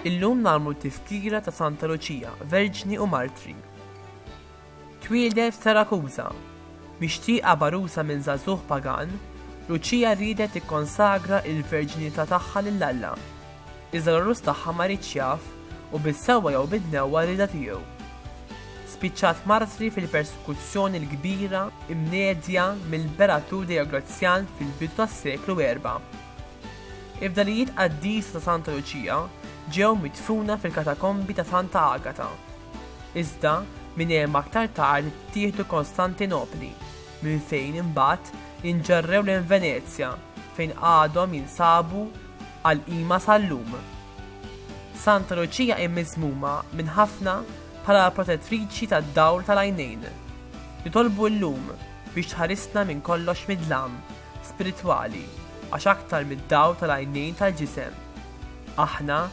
Illum nagħmlu t-Tifkira ta' Santa Luċija, Verġni u Martri. Twieldet f'Sarakuża. Mixtieqa bagħrusa minn żagħżugħ pagan, Luċija riedet tikkonsagra l-verġinità tagħha lil Alla. Iżda l-għarus tagħha ma riedx jaf u bis-sewwa jew bid-dnewwa riedha tiegħu. Spiċċat martri fil-persekuzzjoni l-kbira mnedja mill-Imperatur Dejoglazzjan fil-bidu tas-seklu erba'. Il-fdalijiet qaddisa ta' Santa Luċija ġew midfuna fil-katakombi ta' Santa Agata. Iżda, minn hemm aktar tard ttieħdu Kostantinopli, minn fejn imbagħad inġarrew lejn Venezja fejn għadhom jinsabu għall-qima sal-lum. Santa Luċija hi miżmuma minn ħafna bħala l-protettriċi tad-dawl tal-għajnejn. Nitolbu llum biex tħarisna minn kollox mid-dlam spiritwali għax aktar mid-dawl tal-għajnejn tal-ġisem, aħna